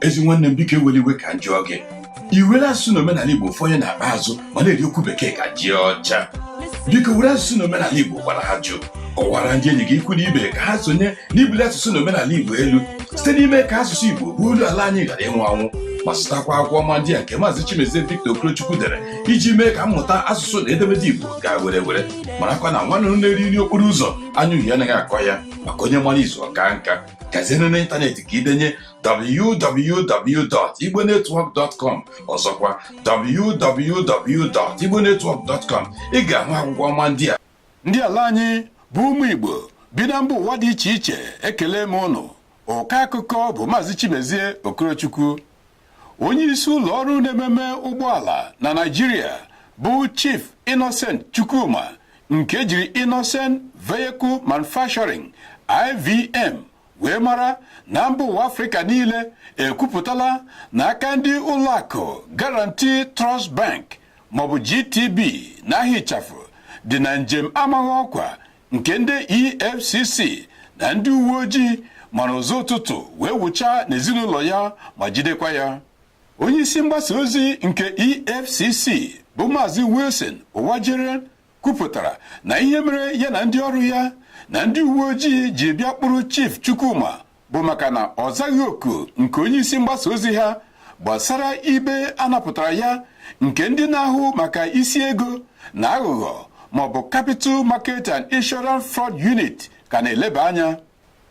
ezi nwanne m biko ewela iwe ka m jụọ gị i were asụsụ na omenala igbo fọnye n'akpa azụ ma na-eri okwu bekee ka ji ọcha biko were asụsụ na omenala igbo gwara ajụ kọwara ndị enyi gị ikwu na ibe ka ha sonye n'ibuli asụsụ na omenala igbo elu site n'ime ka asụsụ igbo bụ olu ala anyị ghara ịnwụ anwụ ma zụtakwa akwụkwọ ọma ndị a nke maazị chimezie victor okorochukwu dere iji mee ka mmụta asụsụ na edemede igbo gaa were were marakwa na nwa nduru na-eri nri okporo ụzọ anya uhie anaghị akọ ya maka onye mara izu ọka nka gazienụ n'ịntanetị ka i denye www.igbonetwork.com ọzọkwa www.igbonetwork.com ị ga-ahụ akwụkwọ ọma ndị a ndị ala anyị bụ ụmụ Igbo bi na mba ụwa dị iche iche ekele m ụnụ ọkọ akụkọ bụ Maazị Chimezie Okorochukwu onye isi ụlọ ọrụ na-ememe ụgbọala na Naịjirịa bụ Chief Innocent Chukwuma nke e jiri Innocent Vehicle Manufacturing IVM wee mara na mba ụwa Afrịka niile ekwupụtala na aka ndị ụlọakụ Guaranty Trust Bank maọbụ GTB n'aha ịchafụ dị na njem amaghị ọkwa nke ndị EFCC na ndị uwe ojii mara ụzọ ụtụtụ wee wụchaa n'ezinụlọ ya ma jidekwa ya onye isi mgbasa ozi nke EFCC bụ Maazị Wilson Uwujaren kwupụtara na ihe mere ya na ndị ọrụ ya na ndị uwe ojii ji bịa kpụrụ Chief Chukwuma bụ maka na ọ zaghị oku nke onye isi mgbasa ozi ha gbasara ibe a napụtara ya nke ndị na-ahụ maka isi ego na aghụghọ maọbụ Capital Market and Insurance Fraud Unit ka na-eleba anya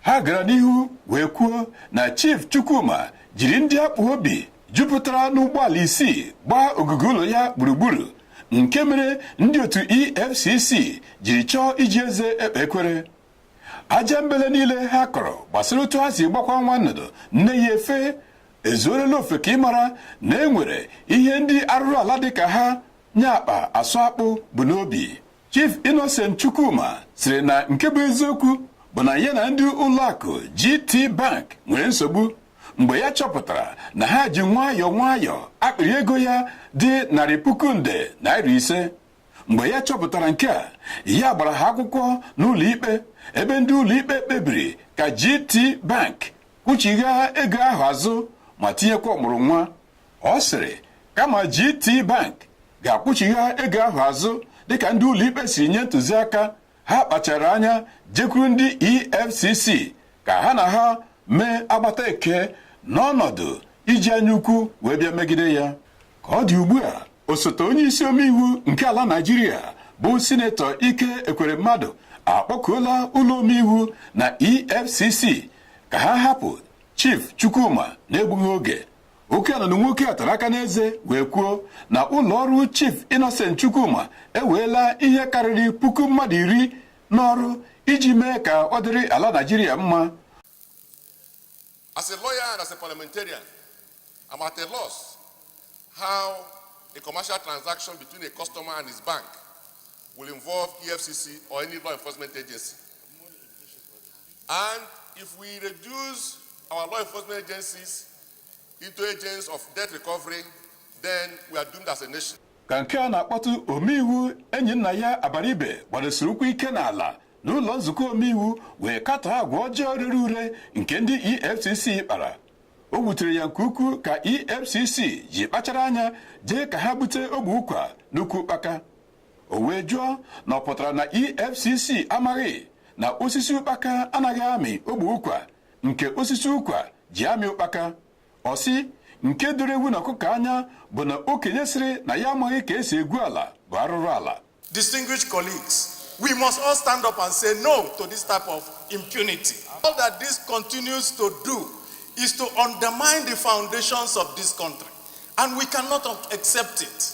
ha gara n'ihu wee kwuo na Chief Chukwuma jiri ndị akpụ obi jupụtara n'ụgbọala isii gbaa ogige ụlọ ya gburugburu nke mere ndị otu EFCC jiri chọọ iji eze ekpe ekwere ajambele niile ha kọrọ gbasara otu ha si gbakwa nwa nnụnụ nne ya efe ezuorela ofeke ịmara na e nwere ihe ndị arụrụ ala dị ka ha nye akpa asụ akpụ bu n'obi Chief Innocent Chukwuma sịrị na nke bụ eziokwu bụ na ya na ndị ụlọakụ GT Bank nwere nsogbu mgbe ya chọpụtara na ha ji nwayọọ nwayọọ akpịrị ego ya dị narị puku nde naira ise mgbe ya chọpụtara nke a ya gbara ha akwụkwọ n'ụlọ ikpe ebe ndị ụlọ ikpe kpebiri ka GT Bank kwụchigha ego ahụ azụ ma tinyekwa ọmụrụ nwa ọ sịrị kama GT Bank ga-akwụchigha ego ahụ azụ dịka ndị ụlọikpe siri nye ntụziaka ha kpachara anya jekwuru ndị EFCC ka ha na ha mee agbata eke n'ọnọdụ iji anya ukwu wee bịa megide ya ka ọ dị ugbu a osote onye isi omeiwu nke ala Naịjirịa bụ sinetọ Ike Ekweremadu akpọkuola ụlọ omeiwu na EFCC ka ha hapụ Chief Chukwuma na-egbughị oge Oke anụnụ nwoke a tara aka n'eze wee kwuo na ụlọ ọrụ Chief Innocent Chukwuma eweela ihe karịrị puku mmadụ iri n'ọrụ iji mee ka ọ dịrị ala Naijiria mma. As a lawyer and as a parliamentarian, I'm at a loss how a commercial transaction between a customer and his bank will involve EFCC or any law enforcement agency. And if we reduce our law enforcement agencies into agents of debt recovery, then we are doomed as a nation. ka nke a na-akpọtụ omeiwu Enyinnaya Abaribe gbadosiri ụkwụ ike n'ala n'ụlọ nzukọ omeiwu wee katọọ agwa ọjọọ rere ure nke ndị efcc kpara o wutere ya nke ukwuu ka efcc ji kpachara anya jee ka ha bute ogbe ụkwa n'ukwu ụkpaka o wee jụọ na ọ pụtara na EFCC amaghị na osisi ụkpaka anaghị amị ogbe ụkwa nke osisi ụkwa ji amị ụkpaka ọ sị nke doro ewu na ọkụkọ anya bụ na okenye sịrị na ya amaghị ka e si egwu ala bụ arụrụ ala Distinguished colleagues, we must all stand up and say no to this type of impunity. All that this continues to do is to undermine the foundations of this country, and we cannot accept it.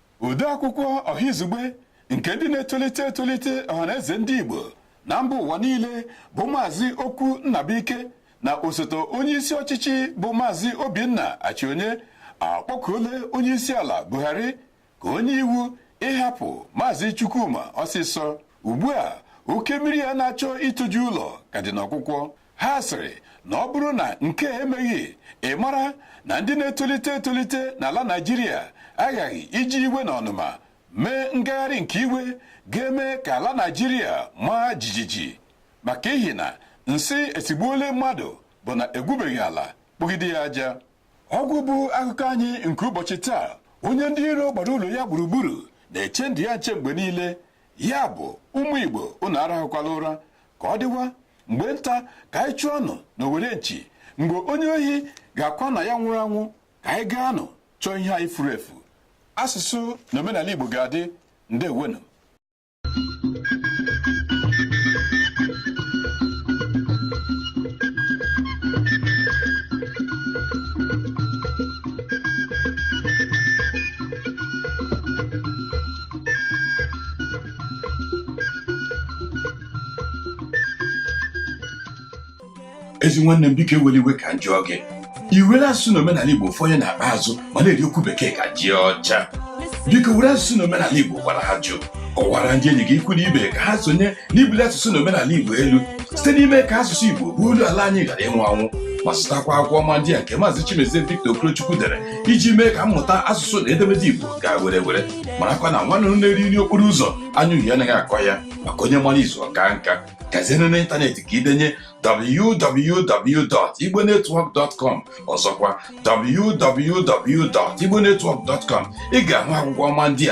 odeakwụkwọ ọhaizugbe nke ndị na-etolite etolite Ọhanaeze ndị Igbo na mba ụwa niile bụ maazị Okwu Nnabuike na osote onye isi ọchịchị bụ maazị Obinna Achionye akpọkuole onye isi ala Buhari ka o nye iwu ịhapụ maazị Chukwuma ọsịsọ ugbu a oke mmiri ya na-achọ itoju ụlọ ka dị n'ọkwụkwọ ha sịrị na ọ bụrụ na nke a emeghị ị mara na ndị na-etolite etolite n'ala Naịjirịa aghaghị iji iwe na ọnụma mee ngagharị nke iwe ga-eme ka ala Naịjirịa maa jijiji maka ihi na nsị esigbuole mmadụ bụ na egwubeghị ala kpụgide ya aja ọ gwụ bụ akụkọ anyị nke ụbọchị taa onye ndị iro gbara ụlọ ya gburugburu na-eche ndụ ya nche mgbe niile ya bụ ụmụ Igbo unu arahụkwala ụra ka ọ dịwa mgbe nta ka anyị chụọnụ n'owere nchi mgbe onye ohi ga-akwa na ya nwụrụ anwụ ka anyị gaanụ chọọ ihe anyị furu efu asụsụ na omenala Igbo ga-adị ndewonu ezi nwanne m biko ewere iwe ka m jụọ gị i were asụsụ na omenala igbo fọnye n'akpa azụ ma na-eri okwu bekee ka ji ọcha biko were asụsụ na omenala igbo gwara ajụ kọwara ndị enyi gị ikwu na ibe ka ha sonye n'ibuli asụsụ na omenala igbo elu site n'ime ka asụsụ igbo bụ olu ala anyị ghara ịnwụ anwụ ma zụtakwa akwụkwọ ọma ndị a nke maazị chimezie victor okorochukwu dere iji mee ka mmụta asụsụ na edemede igbo gaa were were marakwa na nwa nnụnụ na-eri nri okporo ụzọ anya uhie anaghị akọ ya maka onye mara izu ọ kaa nka gazienụ n'ịntanetị ka i denye www.igbonetwork.com ọzọkwa www.igbonetwork.com ị ga-ahụ akwụkwọ ọma ndị a